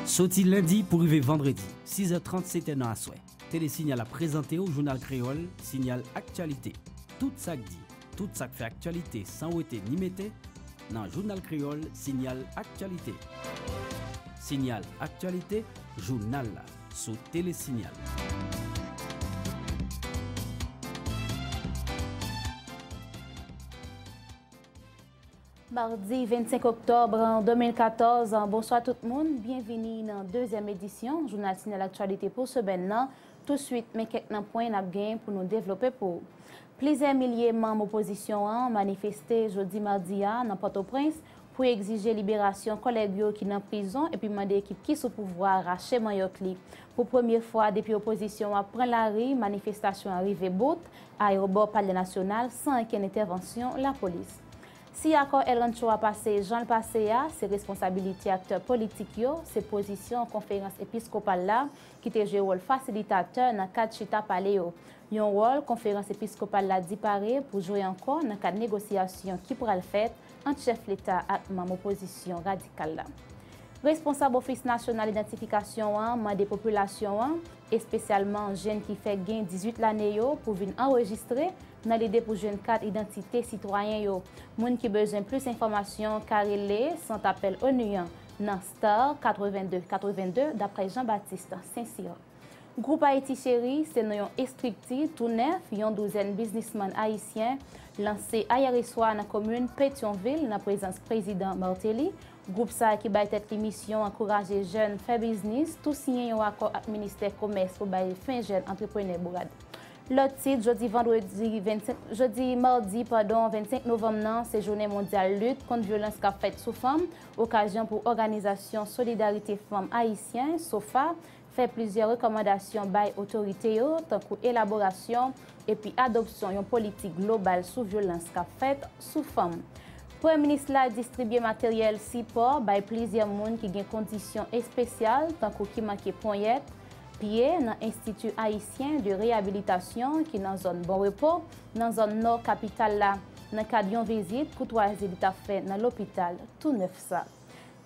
Soti lendi pou rive vandredi, sizè trant setè nan aswè, Tele Sinyal ap prezante w jounal kreyòl Sinyal Aktyalite. Tout sa k di, tout sa k fè aktyalite san wete ni mete nan jounal kreyòl Sinyal Aktyalite. Sinyal Aktyalite, jounal la sou Tele Sinyal. Mardi 25 oktòb 2014, bonswa tout moun, byenvini nan dezyèm edisyon Jounal Tinèl Aktyalite pou semèn nan. Touswit men kèk nan pwen n ap gen pou nou devlope pou ou. Plizyè milye manm opozisyon an manifeste jodi madi a nan Pòtoprens pou egzije liberasyon kòlèg yo ki nan prizon epi mande ekip ki sou pouvwa rache manyòk li. Pou premye fwa depi opozisyon an pran lari manifestasyon an rive bout Ayeropò Palè Nasyonal san ankenn entèvansyon lapolis. Si akò El Rancho a pase jan l pase a, se responsabilite aktè politik yo, se pozisyon Konferans Episkopal la ki te jwe wòl fasilitatè nan kad chita pale yo. Yon wòl Konferans Episkopal la di pare pou jwe ankò nan kad negosyasyon ki pral fèt ant chèf leta ak manm opozisyon radikal la. Responsab Ofis Nasyonal Idantifikasyon an mande popilasyon an, espesyalman jenn ki fèk gen 18 lane yo, pou vin anrejistre nan lide pou jwenn kat idantite sitwayen yo. Moun ki bezwen plis enfòmasyon ka rele Sant Apèl onu an nan star 82 82, daprè Jean Baptiste St-Cyr. Gwoup Ayiti Cheri se non yon estrikti tou nèf yon douzèn biznisman ayisyen lanse ayèreswa nan komin Petyonvil nan prezans Prezidan Martelly, Gwoup sa a ki bay tèt li misyon ankouraje jèn fè biznis, tou siyen yon akò ak ministè komès pou bay fen jèn antreprenè bourad. Lòt tit, jodi vandredi 25, jodi madi padon 25 novanm nan se jounen mondyal lit kont vyolans kap fèt sou fanm, okazyon pou òganizasyon solidarite fanm ayisyen, sofa, fè plizyè rekòmandasyon bay otorite yo, tankou elaborasyon epi adopsyon yon politik global sou vyolans k ap fèt sou fanm. Premye minis la distribye materyèl sipò bay plizyè moun ki gen kondisyon espesyal tankou ki manke ponyèt, pye nan Institut Haïtien de Réhabilitation ki nan zòn Bon Repos, nan zòn nò kapital la, nan kad yon vizit koutwazi li t ap fè nan lopital tou nèf sa.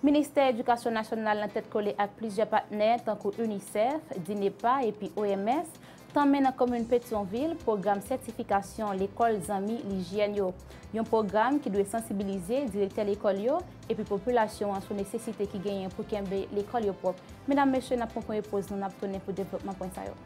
Ministè Edikasyon Nasyonal nan tèt kole ak plizyè patnè tankou UNICEF, DINEPA epi OMS tanmen nan komin Petyonvil pwogram sètifikasyon lekòl zanmi lijyèn yo. Yon pwogram ki dwe sansibilize direktè lekòl yo epi popilasyon an sou nesesite ki genyen pou kenbe lekòl yo pwòp. Medam, mesye, n ap pran premye poz nou, n ap tounen pou devlopman pwen sa yo.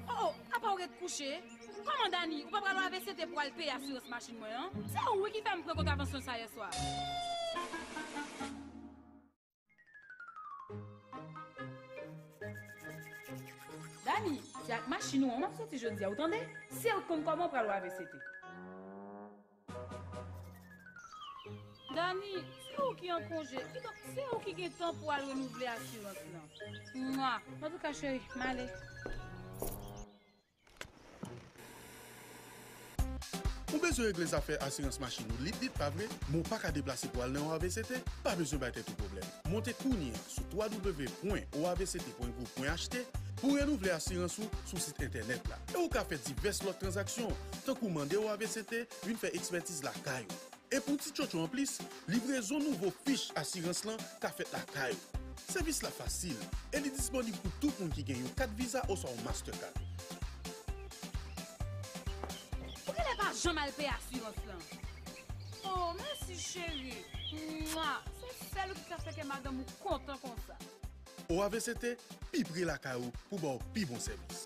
O o, apa w ret kouche? Kòman Dani, ou pa pral lave sete pou al peye asirans machin mwen an? Se ou wi ki fè m pran kontravansyon sa yèswa. Dani, se ak machin ou an map soti jodi a ou tande, sew t konn koman pral wave sete. Dani, se ou ki an konje, kidonk se ou ki gen tan pou al renouvle asirans lan. Mwa. Antouka cheri, male. Ou bezwen regle zafè asirans machin ou lit lit, pa vre? Men w pa ka deplase pou al nan yon avct? Pa bezwen bay tèt ou pwoblèm. Monte kounye a sou www.oavct.gouv.ht pou w renouvle asirans ou sou sit entènèt la. E ou ka fè divès lòt tranzaksyon, tankou mande oavct vin fè ekspètiz lakay ou. E pou ti tchotcho anplis, Livrezon nouvo fich asirans lan ka fèt lakay ou. Sèvis la fasil e li disponib pou tout moun ki gen yon kat Visa oswa yon Mastercard. Ou genlè pa janm al peye asirans lan. Oh mèsi cheri Mwa Se sèl ou ki ka fè kè madanm ou kontan konsa. OAVCT pi pre lakay ou pou ba w pi bon sèvis.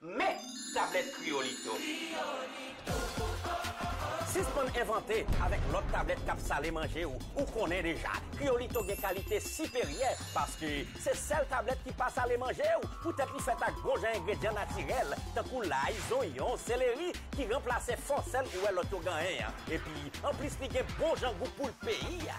Men! Tablèt Kriyolito! Sispann envante avèk lòt tablèt k ap sale manje ou, ou konnen deja Kriyolito gen kalite siperyè paske se sèl tablèt ki pa sale manje ou poutèt li fèt ak bon jan engredyan natirèl tankou lay, zonyon, seleri ki ranplase fo sèl ou wè lòt yo ganyen an epi anplis li gen bon jan gou poul peyi a.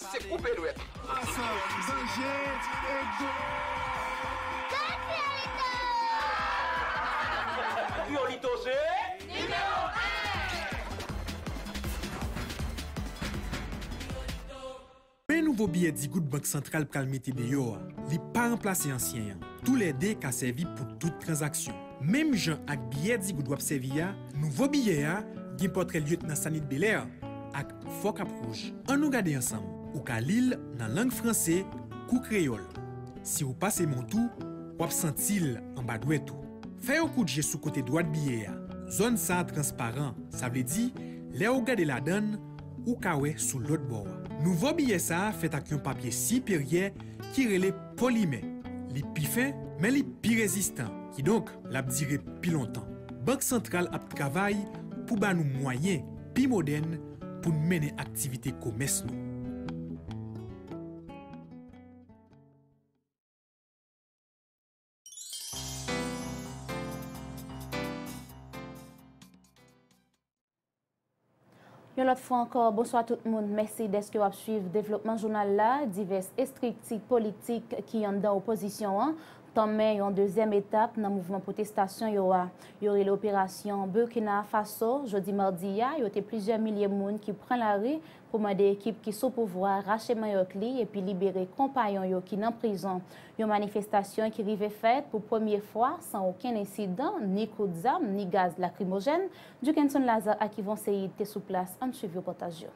Se koupe dwèt. Asan danje e gol! Kriyolito se nimewo 1! Men nouvo biyè digout Bank Santral pral mete deyò a, li pa ranplase ansyen an. Toulède ka sèvi pou tout tranzaksyon. Menm jan ak biyè digout w ap sèvi a, nouvo biyè a gen pòtrè Lyetnan Sanit Belè ak. Fò kap wouj. An nou gade ansanm. Ou ka li l nan lang franse kou kreyòl. Si ou pase men w tou, w ap santi l anba dwèt ou. Fè yon kout je sou kote dwat biye a. Zòn sa transparan, sa vle di lè ou gade ladan l, ou ka wè sou lòt bò a. Nouvo biye sa fèt ak yon papye siperyè ki rele polimè. Li pi fen, men li pi rezistan, kidonk l ap dire pi lontan. Bank santral ap travay pou ba nou mwayen. pi modèn pou n mennen aktivite komès nou. Yon lòt fwa ankò, bonswa tout moun. Mèsi dèske w ap suiv devlopman jounal la. Divès estrikti politik ki anndan opozisyon an tanmen yon dezyèm etap nan mouvman pwotestasyon yo a, yo rele operasyon Burkina Faso, jodi madi a, yo te plizyè milye moun ki pran lari pou mande ekip ki sou pouvwa rache manyòk li epi libere konpayon yo ki nan prizon, yon manifestasyon ki rive fèt pou premye fwa san okenn ensidan, ni kout zam, ni gaz lakrimojèn. Duckenson Lazarre ak Yvon Séide te sou plas, ann swiv repòtaj yo.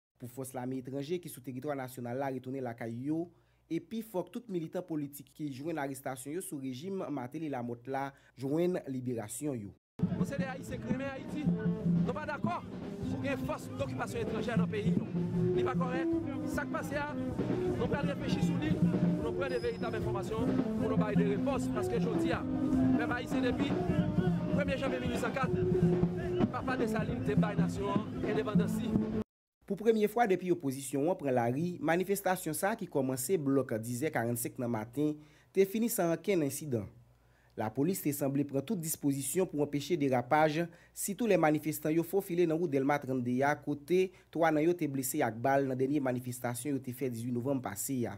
Pou fòs lame etranje ki sou teritwa nasyonal la retounen lakay yo, epi fòk tout militan politik ki jwenn arestasyon yo sou rejim Martelly Lamothe la jwenn liberasyon yo. Nou se de Ayisyen k renmen Ayiti. Nou pa dakò pou gen fòs dokipasyon etranjè nan peyi nou. Li pa kòrèk. Sa k pase a, nou pral reflechi sou li pou nou pran de veritab enfòmasyon pou nou bay de repons paske jodi a, pèp Ayisyen depi premye janvye 1804, Papa Dessalines te bay nasyon an, endepandansi. Pou premye fwa depi opozisyon an pran lari, manifestasyon sa ki kòmanse blòk dizè 45 nan maten te fini san ankenn ensidan. Lapolis te sanble pran tout dispozisyon pou anpeche derapaj, sitou lè manifestan yo fofile nan wout Dèlma 32 a kote 3 nan yo te blese ak bal nan dènye manifestasyon yo te fè 18 novanm pase a.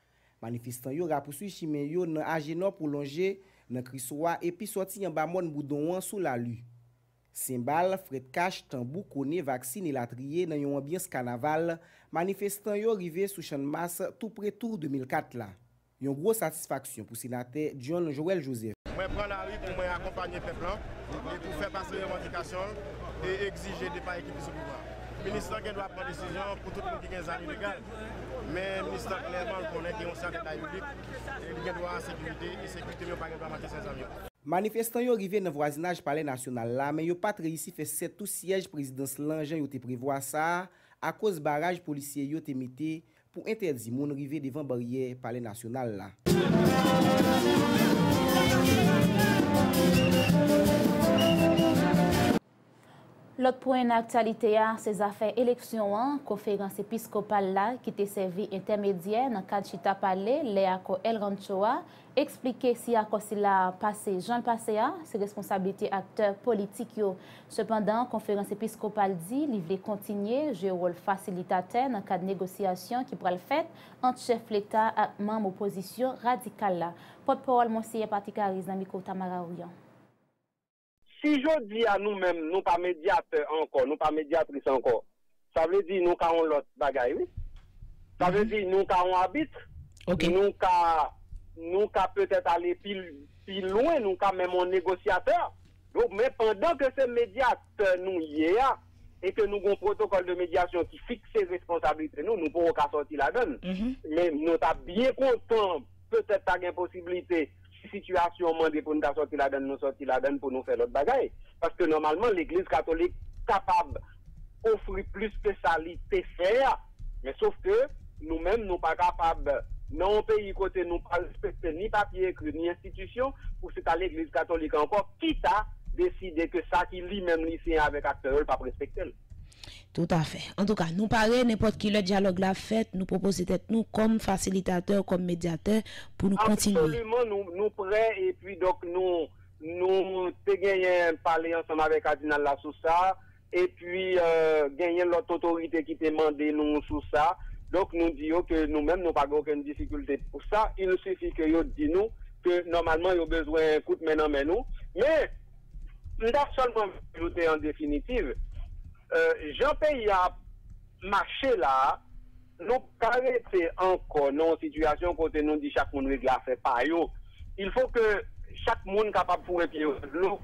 Manifestan yo rapouswiv chimen yo nan Ajenò pou lonje nan Kriswa epi sòti anba mòn Boudon an sou Lalu. Senbal, frèt kach, tanbou, kone, vaksin elatriye nan yon anbyans kanaval, manifestan yo rive sou Channmas tou pre Tour 2004 la. Yon gwo satisfaksyon pou Senatè John Joël Joseph. Mwen pran lari pou mwen akonpanye pèp lan e pou fè pase revandikasyon l e egzije depa ekip ki sou pouvwa. Minis lan gen dwa pran desizyon pou tout moun ki gen zam ilegal. Men Mista klèman l konnen gen yon sèten kay biblik e li gen dwa a sekirite e sekirite m yo pa gen dwa manke sèzanm yo. Manifestan yo rive nan vwazinaj palè nasyonal la men yo pat reyisi fè sètou syèj prezidans lan jan yo te prevwa sa akoz baraj polisye yo te mete pou entèdi moun rive devan baryè palè nasyonal la. Lòt pwen nan aktyalite a, se zafè eleksyon an, Konferans Episkopal la, ki te sèvi entèmedyè nan kad chita pale lè akò El Rancho a, eksplike si akò sila a pase jan l pase a, se responsablite aktè politik yo. Sepandan, Konferans Episkopal di li vle kontinye jwe wòl fasilitatè nan kad negosyasyon ki pral fèt ant chèf leta ak manm opozisyon radikal la. Pòtpawòl Monseyè Patrick Harris nan mikwo Tamara Orion. Si jodi a nou menm nou pa medyatè ankò, nou pa medyatris ankò, sa vle di nou ka yon lòt bagay wi. Sa vle di nou ka yon abit, nou ka, nou ka petèt ale pi, pi lwen, nou ka menm yon negosyatè. Donk men pandan ke se medyatè nou ye a e ke nou gen yon pwotokòl de medyasyon ki fikse responsablite nou, nou poko ka sòti ladann. Men nou ta byen kontan petèt ta gen posiblite Si sitiyasyon an mande pou n ta sòti ladan l, nou sòti ladan l pou nou fè lòt bagay. Paske nòmalman legliz katolik kapab ofri plis ke sa li te fè a. Men sof ke nou menm nou pa kapab nan yon peyi kote nou pa respekte ni papye ekri ni enstitisyon pou se ta legliz katolik ankò ki ta deside ke sa ki li menm li siyen avèk aktè yo l pap respekte l. Toutafè. Antouka, nou pare, nenpòt ki lè dyalòg la ap fèt, nou pwopoze tèt nou kòm fasilitatè, kòm medyatè, pou nou kontinye. Absoliman, nou prè, epi donk nou, nou te genyen pale ansanm avè kadinal la sou sa, epi genyen lòt otorite ki te mande nou sou sa, donk nou di yo ke nou menm nou pa gen okenn difikilte pou sa, il sifi ke yo di nou ke nòmalman yo bezwen kout men nan men nou, men. M ta sèlman vle ajoute an definitiv, jan peyi a ap mache la a, nou p ka rete ankò nan yon sitiyasyon kote nou di chak moun regle afè pa yo. Il fo ke chak moun kapab foure pye yo nan dlo.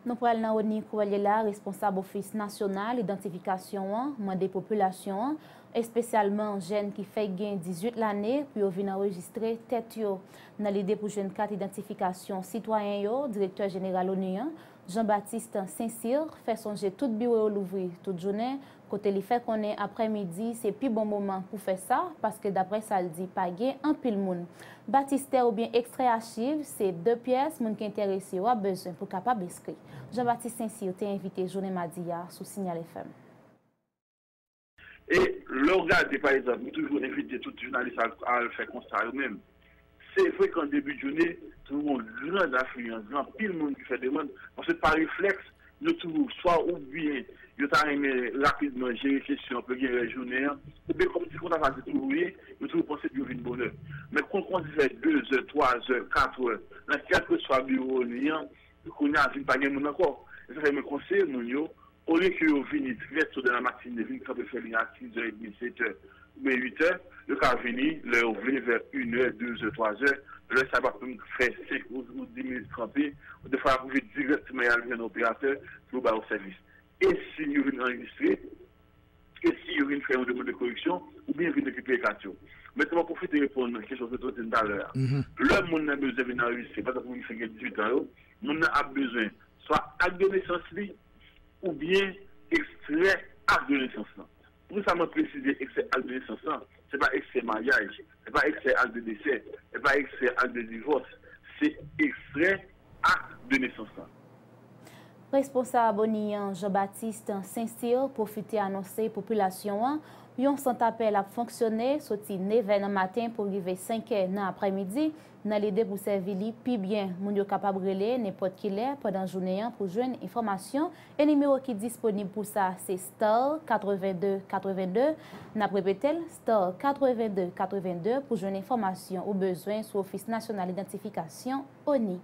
Nou pral nan Rony Cruelle la, responsab ofis nasyonal idantifikasyon an mande popilasyon an, espesyalman jèn ki fèk gen 18 lane, pou yo vin anrejistre tèt yo. Nan lide pou jwenn kat idantifikasyon sitwayen yo, Direktè Jeneral onu an, Jean Baptiste St-Cyr, fè sonje tout biwo yo louvri tout jounen, kote li fè konnen aprè midi se pi bon moman pou fè sa, paske daprè sa l di pa gen anpil moun. Batistè oubyen ekstrè achiv, se de pyès moun ki enterese yo ap bezwen pou kapab enskri. Jean Baptiste St-Cyr te envite jounen madi a sou Signal FM. E lè w gade pa egzanp, m toujou envite tout jounalis a al fè konsta yo menm. Se vre ke an debi de joune, toujou gen yon gran afliyans, gen anpil moun ki fè demann, paske pa reflèks, yo toujou swa oubyen yo ta renmen rapidman jere kesyon an pou yo gen rès jounen an, oubyen kòm se konsa sa te toujou ye, yo toujou panse pou yo vin bonè. Men kon l kòmanse fè dezè, twazè, katrè, nan kèlkeswa biwo ONI an, Yo kounye a vin pa gen moun ankò. E sa fè mwen konseye moun yo, olye ke yo vini trè to dan la matine, vin kanpe fè liy a siz è edmi, set è, oubyen uit è, yo ka vini lè yo vle vè in è, de zè, twa zè, lè sa yo pap menm fè senk ou di minit kanpe, defwa yap rive dirèkteman yal jwenn operatè pou yo ba yo sèvis. E si yo vin anrejistre? e si yo vin fè yon demann de koreksyon oubyen vin rekipere kat yo. Mèt mwen pwofite reponn kesyon Soso di m talè a. Lè moun nan bezwen vin anrejistre, pa egzanp moun ki fin gen 18 an yo, moun nan ap bezwen swa ak de nesans li oubyen ekstrè ak de nesans lan. Poukisa mwen presize ekstrè ak de nesans lan? Se pa ekstrè maryaj, se pa ekstrè ak de desè, se pa ekstrè ak de divòs, se ekstrè. Akt de nesans la. Responsab ONI an, Jean Baptiste St-Cyr pwofite anonse popilasyon an yon sant apèl ap fonksyone soti 9 è nan maten pou rive 5 è nan aprè midi nan lide pou sèvi li pi byen. Moun yo kapab rele nenpòt ki lè pandan jounen an pou jwenn enfòmasyon e nimewo ki disponib pou sa se star 82 82. N ap repete l, star 82 82 pou jwenn enfòmasyon ou bezwen sou Ofis Nasyonal Idantifikasyon. ONI.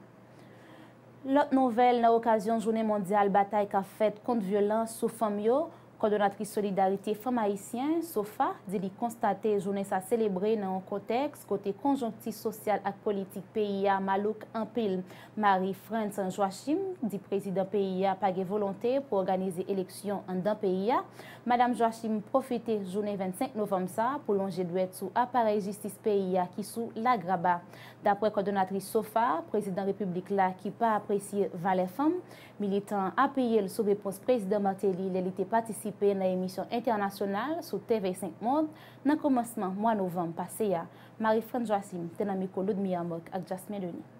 Lòt nouvèl nan okazyon jounen mondyal batay k ap fèt kont vyolans sou fanm yo, kòdonatris solidarite fanm ayisyen, sofa, di li konstate jounen sa selebre nan yon kontèks kote konjonkti sosyal ak politik peyi a malouk anpil. Marie France Joachim di prezidan peyi a pa gen volonte pou òganize eleksyon anndan peyi a. Madam Joachim pwofite jounen 25 novanm sa pou lonje dwèt sou aparèy jistis peyi a ki sou lagraba. Daprè kòdonatris sofa, prezidan repiblik la ki pa apresye valè fanm, militan an appiye l sou repons prezidan Martelly lè li te patisipe nan emisyon entènasyonal sou TV 5 Monde nan kòmansman mwa novanm pase a. Marie-France Joachim te nan mikwo Ludmilla Mock ak Jasmin Denis.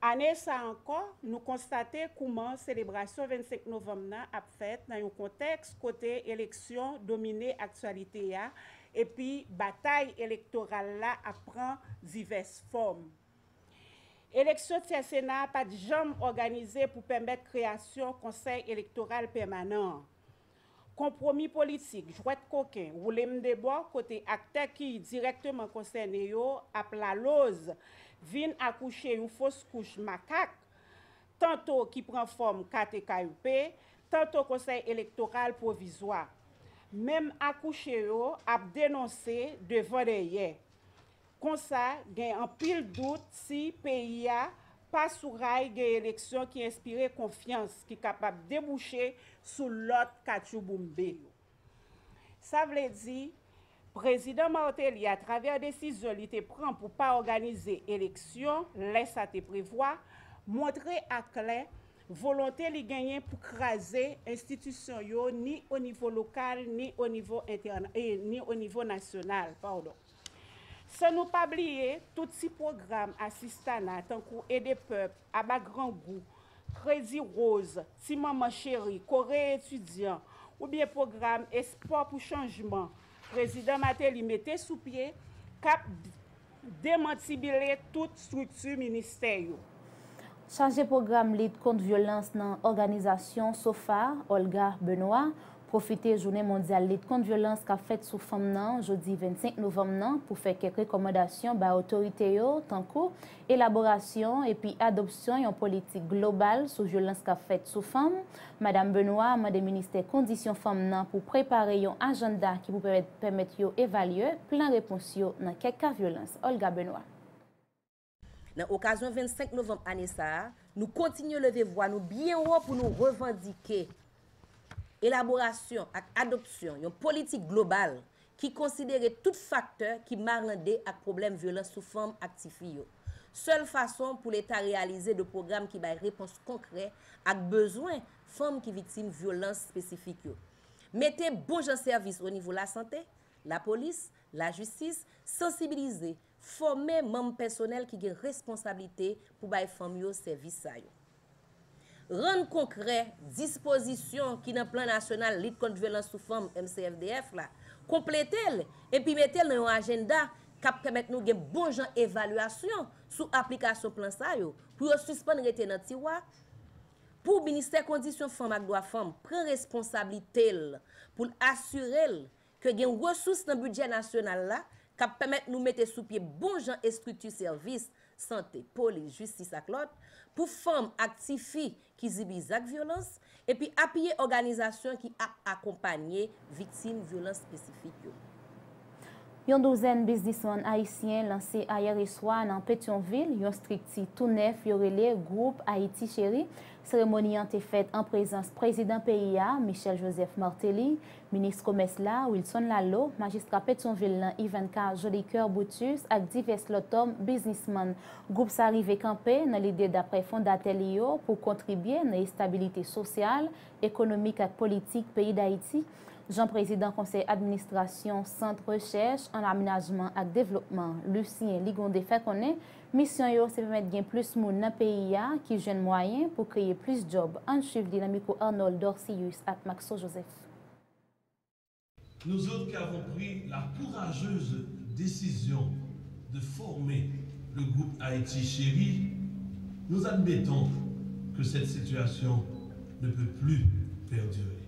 Ane sa ankò, nou konstate kouman selebrasyon 25 novanm nan ap fèt nan yon kontèks kote eleksyon domine aktyalite a epi batay elektoral la ap pran divès fòm. Eleksyon Tyè Sena a pa t janm òganize pou pèmèt kreyasyon Konsèy Elektoral Pèmanan an. Konpwomi politik, jwèt koken, woule m de bò kote aktè ki dirèkteman konsène yo ap laloz vin akouche yon fos kouch makak, tanto ki pran fòm KTKUP, tanto Konsèy Elektoral Pwovizwa. Menm akouche yo ap denonse devan dèyè. Konsa, gen anpil dout si peyi a pa sou ray gen eleksyon ki enspire konfyans ki kapab debouche sou lòt katchouboumbe yo. Sa vle di, Prezidan Martelly atravè desizyon li te pran pou pa òganize eleksyon lè sa te prevwa, montre aklè volonte li genyen pou kraze enstitisyon yo ni onivo lokal ni onivo nasyonal. San nou pa bliye tout ti pwogram asistana tankou ede pèp, aba grangou, kredi woz, ti manman cheri, kore etidyan, oubyen pwogram espò pou chanjman Prezidan Mateli mete sou pye k ap demantibile tout strikti ministè yo. Chaje pwogram lit kont vyolans nan òganizasyon sofa, Olga Benoît, pwofite jounen mondyal lit kont vyolans k ap fèt sou fanm nan jodi 25 novanm nan pou fè kèk rekòmandasyon bay otorite yo tankou elaborasyon epi adopsyon yon politik global sou vyolans k ap fèt sou fanm. Madam Benoît mande ministè kondisyon fanm nan pou prepare yon ajanda ki pou pèmèt yo evalye plan repons yo nan kèk ka vyolans. Olga Benoît. Nan okazyon 25 novanm ane sa a, nou kontinye leve vwa nou byen wo pou nou revandike elaborasyon ak adopsyon yon politik global ki konsidere tout faktè ki marande ak pwoblèm vyolans sou fanm ak tifi yo, sèl fason pou Leta reyalize de pwogram ki bay repons konkrè ak bezwen fanm ki viktim vyolans espesifik yo. Mete bon jan sèvis onivo lasante, lapolis, lajistis, sansibilize, Fòme manm pèsonèl ki gen responsablite pou bay fanm yo sèvis sa yo. Rann konkrè dispozisyon ki nan Plan Nasyonal Lit Kont Vyolans sou Fanm, MCFDF, la, konplete l epi mete l nan yon ajennda k ap pèmèt nou gen bon jan evalyasyon sou aplikasyon plan sa yo pou yo sispann rete nan tiwa, pou Ministè Kondisyon Fanm ak Dwa Fanm pran responsablite l pou l asire l ke gen resous nan bidjè nasyonal la k ap pèmèt nou mete sou pye bon jan estrikti sèvis, sante, polis, jistis ak lòt, pou fanm ak tifi ki zibi zak vyolans, epi apiye òganizasyon ki ap akonpanye viktim vyolans espesifik yo. Yon douzèn biznisman ayisyen lanse ayèreswa nan Petyonvil yon strikti tou nèf yo rele Gwoup Ayiti Cheri. Seremoni an te fèt an prezans Prezidan peyi a, Michel Joseph Martelly, Minis komès la, Wilson Laleau, majistra Petyonvil lan Yvanka Jolicoeur Brutus ak divès lòt tòm biznismann. Gwoup sa rive kanpe nan lide daprè fondatè li yo pou kontribye nan estabilite sosyal, ekonomik ak politik peyi Dayiti, jan prezidan konsèy administrasyon Sant Rechèch an Amenajman ak Devlopman, Lucien Ligonde fè konnen. Misyon yo se pèmèt gen plis moun nan peyi a ki jwenn mwayen pou kreye plis djòb. Ann swiv li nan mikwo Arnold Dorcilus ak Maxo Joseph. Nous autres qui avons pris la courageuse décision de former le groupe Haïti Chérie, nous admettons que cette situation ne peut plus perdurer.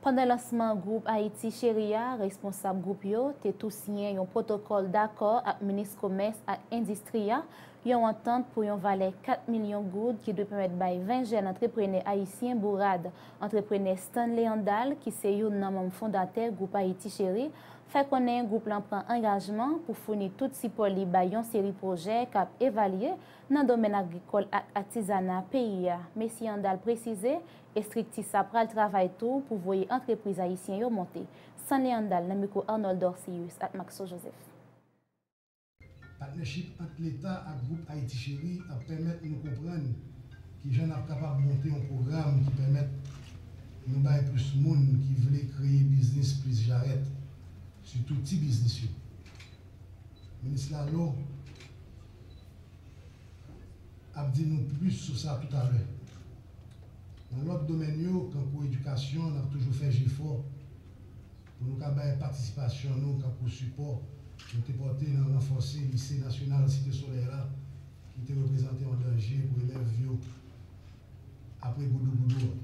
Pandan lansman gwoup Ayiti Cheri a, responsab gwoup yo te tou siyen yon pwotokòl dakò ak minis komès ak endistri a, yon antant pou yon valè 4 milyon goud ki dwe pèmèt bay 20 jèn antreprenè ayisyen bourad. Antreprenè Stanley Andal, ki se youn nan manm fondatè gwoup Ayiti Cheri, fè konnen gwoup lan pran angajman pou founi tout sipò li bay yon seri pwojè k ap evalye nan domèn agrikòl ak atizana peyi a. Mesye Andal presize Estrikti sa pral travay tou pou voye antrepriz ayisyen yo monte. Sunny Handal nan mikwo Arnold Dorcéus ak Maxo Joseph. Patnèchip ant Leta ak Gwoup Ayiti Cheri ap pèmèt nou konprann ki jan n ap kapab monte yon pwogram ki pèmèt nou bay plis moun ki vle kreye biznis plis jarèt, sitou ti biznis yo. Minis Laleau. ap di nou plis sou sa toutalè. Nan lòt domèn yo, kankou edikasyon, n ap toujou fè jefò pou nou ka bay patisipasyon nou kankou sipò nou te pòte nan ranfòse Lise Nasyonal Site Solèy la ki te reprezante yon danje pou elèv yo apre goudougoudou an.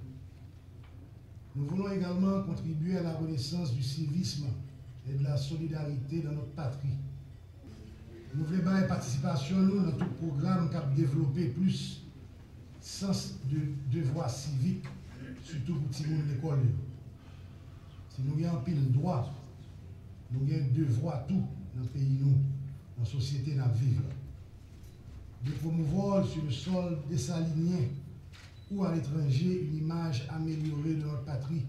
Nou voulon egalman kontribye a la renesans di sivism e de la solidarite dans notre patrie. Nou vle bay patisipasyon nou nan tout pwogram k ap devlope plis sans de devwa sivik, sitou pou timoun lekòl yo. Si nou gen anpil dwa, nou gen devwa tou nan peyi nou, nan sosyete n ap viv la. De promouvò su le sòl desalinyen ou a letranje un imaj amelyore de nòt patri,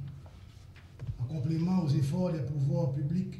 an konpleman o zefò dè pouvò piblik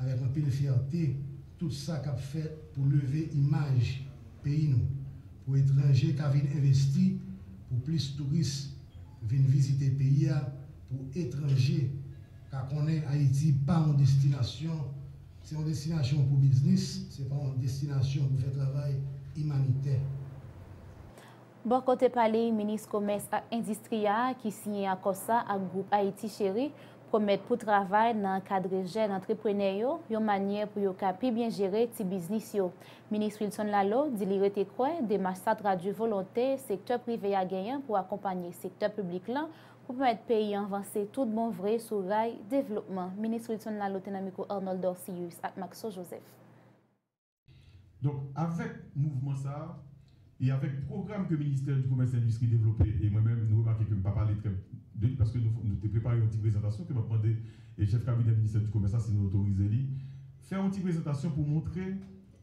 Avèk anpil fyète tout sa k ap fèt pou leve imaj peyi nou, pou etranje ka vin envesti, pou plis touris vin vizite peyi a, pou etranje ka konnen Ayiti pa yon destinasyon, se yon destinasyon pou biznis, se pa yon destinasyon pou fè travay imanitè. Bò kote pa li, Minis Komès ak Endistri a, ki siyen akò sa ak gwoup Ayiti Cheri, Pwomèt pou travay nan ankadre jèn antreprenè yo yon manyè pou yo ka pi byen jere ti biznis yo. Minis Wilson Laleau di li rete kwè demach sa tradui volonte sektè prive a genyen pou akonpanye sektè piblik lan pou pèmèt peyi an vanse tout bon vre sou ray devlopman. Minis Wilson Laleau te nan mikwo Arnold Dorcilus ak Maxo Joseph. Donk avèk mouvman sa a e avèk pwogram ke Ministè di Komès e Endistri devlope e mwen menm nou remake ke m pa pale trè de li paske nou te prepare yon ti prezantasyon ke m ap mande Chèf Kabinè Ministè di Komès la si nou otorize li fè yon ti prezantasyon pou montre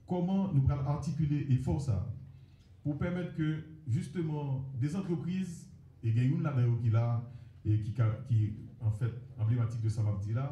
kòman nou pral atikile efò sa a pou pèmèt ke jisteman de antrepriz e gen youn ladan yo ki la e ki anfèt anblematik de sa m ap di la.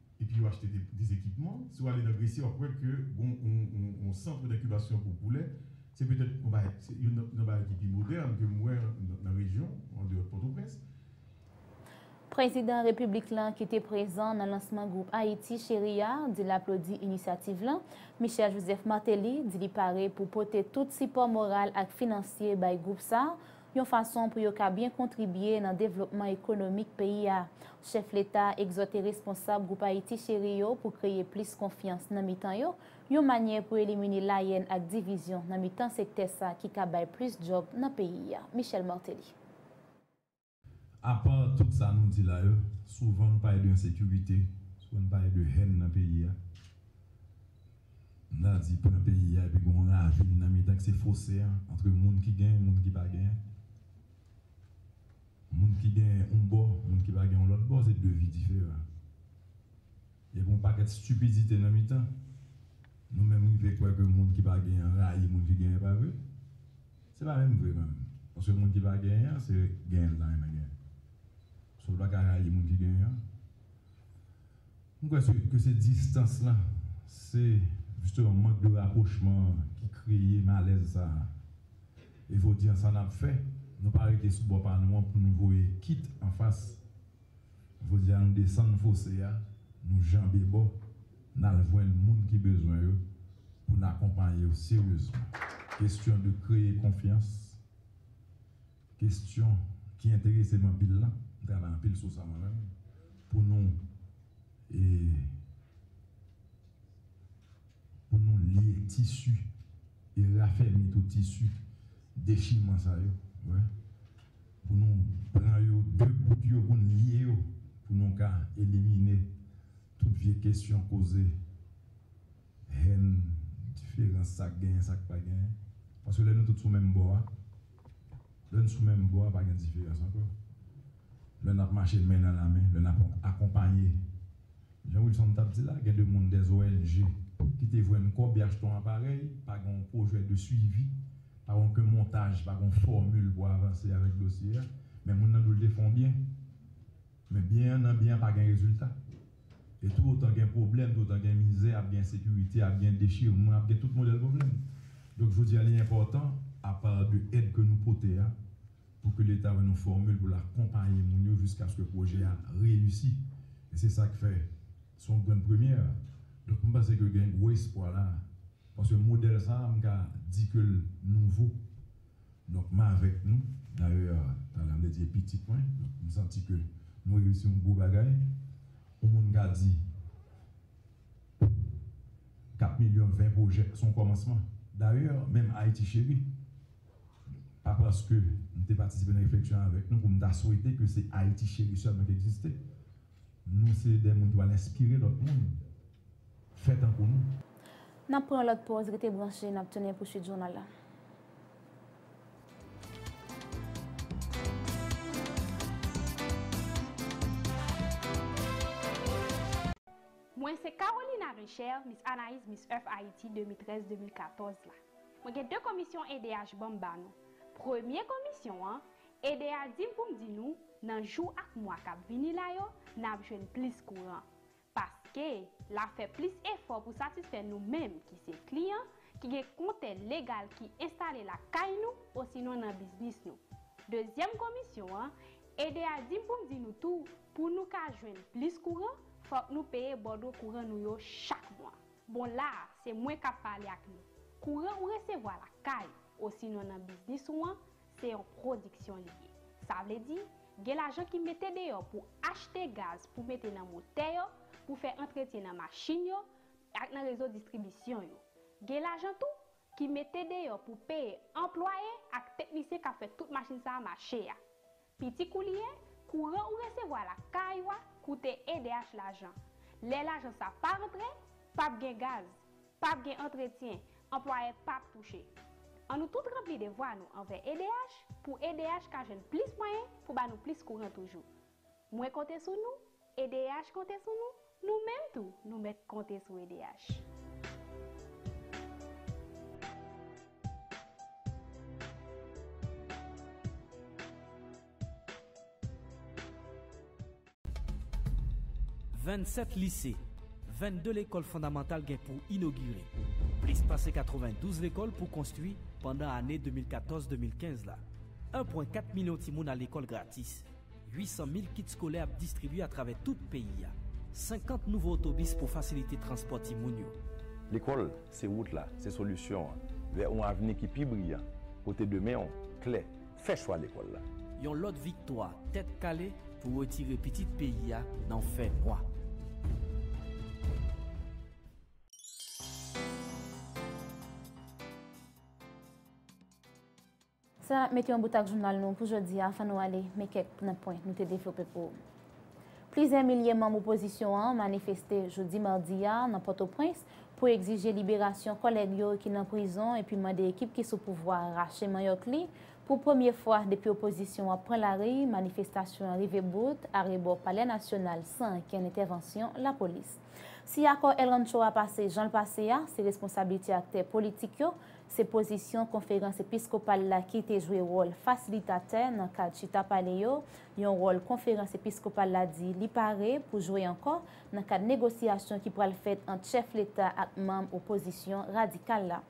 Epi yo achte des ekipman. Si w ale nan Gresye w ap wè ke gon yon centre d'incubation pou poulè. Se petèt yon bagay, se youn nan bagay ki pi modèn ke m wè nan rejyon, an deyò de Pòtoprens. Prezidan Repiblik lan ki te prezan nan lansman gwoup Ayiti Cheri a, di l aplodi inisyativ lan. Michel Joseph Martelly di li pare pou pote tout sipò moral ak finansye bay gwoup sa, yon fason pou yo ka byen kontribye nan devlopman ekonomik peyi a. Chèf leta a egzòte responsab Gwoup Ayiti Cheri yo pou kreye plis konfyans nan mitan yo, yon manyè pou elimine layèn ak divizyon nan mitan sektè sa ki ka bay plis djòb nan peyi a. Michel Martelly. Apa tout sa nou di la yo, souvan nou pale de ensekirite, souvan nou pale de hèn nan peyi a. M ta di pran peyi a epi gen yon ravin nan mitan ki se fose a antre moun ki gen, moun ki pa gen. Moun ki gen yon bò, moun ki pa gen yon lòt bò se 2 vi diferan. Epi yon pakèt stipidite nan mitan. Nou menm rive kwè ke moun ki pa gen an rayi moun ki gen, e pa vre? Se pa menm vre kanmenm. Paske moun ki pa gen an se gen l ta renmen gen. So l pa ka rayi moun ki gen an. M kwè se ke se distans lan, se jisteman mank de rapwochman an ki kreye malèz sa a. E jodi an sa n ap fè, nou pa rete sou bò pa nou an pou nou voye kit anfas. Jodi a nou desann fose a, nou janbe bò, n al jwenn moun ki bezwen yo pou n akonpaye yo seryezman. Kestyon de kreye konfyans. Kestyon ki enterese m anpil lan, m travay anpil sou sa mwen menm, pou nou e pou nou lye tisi e rafèmi tou tisi dechiman sa yo, wè, pou nou pran yo de bout yo pou n lye yo, pou nou ka elimine tout vye kestyon koze. Haine, diferans, sa k genyen, sa k pa genyen. Paske lè nou tout sou menm bò a, lè n sou menm bò a pa gen diferans ankò. Lè n ap mache men nan lamen, lè n ap akonpaye. Jan Wilson t ap di la, gen de moun, des ong, ki te jwenn kòb, y achte yon aparèy, pa gen yon pwojè de suivi, pa gen oken montaj, pa gen yon fòmil pou avanse avèk dosye a. Men moun nan di w l te fè yon byen. Men byen an nan byen an pa gen rezilta. E tou otan gen pwoblèm, tou otan gen mizè, ap gen ensekirite, ap gen dechirman, ap gen tout modèl pwoblèm. Donk jodi a li enpòtan, apa de èd ke nou pote a, pou ke Leta ban nou fòmil pou l akonpaye moun yo jiskaske pwojè a reyisi. E se sa k fè se yon grenn premyè. Donk m panse ke gen gwo espwa la a. Paske modèl sa a m ka di ke l nouvo. Donk m avèk nou, dayè Taylan Lady e pitit mwen, donk m santi ke nou reyisi yon gwo bagay. Yon moun ka di 4 milyon 20 pwojè s on kòmansman. Dayè menm Ayiti Cheri, pa paske m te patisipe nan refleksyon avèk nou pou m ta swete ke se Ayiti Cheri sèlman ki egziste. Nou se de moun ki pral enspire lòt moun fè tankou nou. N ap pran yon lòt pòz, rete branche, n ap tounen pou suit jounal la. Mwen se Carolina Richer, Miss Anaïz Miss Earth Haiti 2013-2014 la. Mwen gen 2 komisyon edh banm ba nou. Premye komisyon an, edh di m pou m di nou, nan jou ak mwa k ap vini la yo, n ap jwenn plis kouran. Paske, l ap fè plis efò pou satisfè nou menm ki se kliyan, ki gen kontè legal ki enstale lakay nou osinon nan biznis nou. Dezyèm komisyon an, ede a di m pou m di nou tou, pou nou ka jwenn plis kouran, fòk nou peye bòdwo kouran nou yo chak mwa. Bon la a, se mwen k ap pale ak nou. Kouran ou resevwa lakay ou osinon nan biznis ou an, Se yon pwodiksyon li ye. Sa vle di, gen lajan ki mete deyò pou achte gaz pou mete nan motè yo, pou fè antretyen nan machin yo, ak nan rezo distribisyon yo. Gen lajan tou, ki mete deyò pou peye anplwaye ak teknisyen k ap fè tout machin sa a mache a. Piti kou li ye, kouran ou resevwa lakay ou a koute edh lajan. Lè lajan sa pa rantre, p ap gen gaz. Pap gen antretyen, anplwayè pap touche. An nou tout ranpli devwa nou anvè edh pou edh ka jwenn plis mwayen pou ba nou plis kouran toujou. Mwen konte sou nou, edh konte sou nou, nou menm tou nou mèt konte sou edh. 27 lise, 22 lekòl fondamantal gen pou inogire, plis pase 92 lekòl pou konstwi pandan ane 2014, 2015 la. 1 pwen 4 milyon timoun a lekòl gratis, 800 mil kit skolè ap distribye atravè tout peyi a, 50 nouvo otobis pou fasilite transpò timoun yo. Lekòl se wout la, se solisyon an vè yon avni ki pi briyan, kote demen w klè. fè chwa lekòl la. Yon lòt viktwa tèt kale pou retire pitit peyi a nan fè nwa. Sa mete yon bout ak jounal nou pou jodi a. Anvan nou ale, men kèk nan pwen nou te devlope pou ou. Plizyè milye manm opozisyon an manifeste jodi madi a nan Pòtoprens pou egzije liberasyon kòlèg yo ki nan prizon epi mande ekip ki sou pouvwa a rache manyòk li. Pou premye fwa depi opozisyon an pran lari, manifestasyon an rive bout arebò Palè Nasyonal san ankenn entèvansyon lapolis. Si akò El Rancho a pase jan l pase a, se responsablite aktè politik yo, se pozisyon Konferans Episkopal la ki te jwe wòl fasilitatè nan kad chita pale yo, yon wòl Konferans Episkopal la di li pare pou jwe ankò nan kad negosyasyon ki pral fèt ant chèf leta ak manm opozisyon radikal la.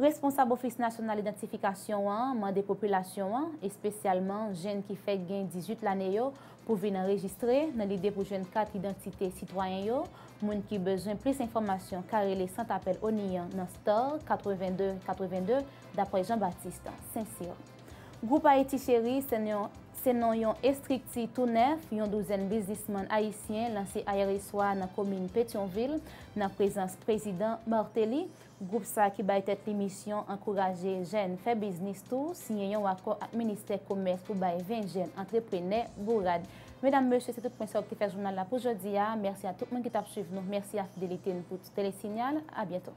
Responsab Ofis Nasyonal Idantifikasyon an mande popilasyon an, espesyalman jenn ki fèk gen 18 lane yo, pou vin anrejistre nan lide pou jwenn kat idantite sitwayen yo. Moun ki bezwen plis enfòmasyon ka rele sant apèl ONI an nan star 82 82, dapre Jean-Baptiste St-Cyr. Gwoup Ayiti Cheri se yon Se non yon estrikti tou nèf yon douzèn biznisman ayisyen lanse ayèreswa nan komin Petyonvil nan prezans prezidan Martelly. Gwoup sa ki bay tèt li misyon ankouraje jèn fè biznis tou siyen yon akò ak ministè komès pou bay 20 jèn antreprenè bourad. Medam, mesye se tout pwen sa yo ki te fè jounal la pou jodi a. Mèsi a tout moun ki t ap swiv nou. Mèsi a fidelite n pou Telesignal. A byento.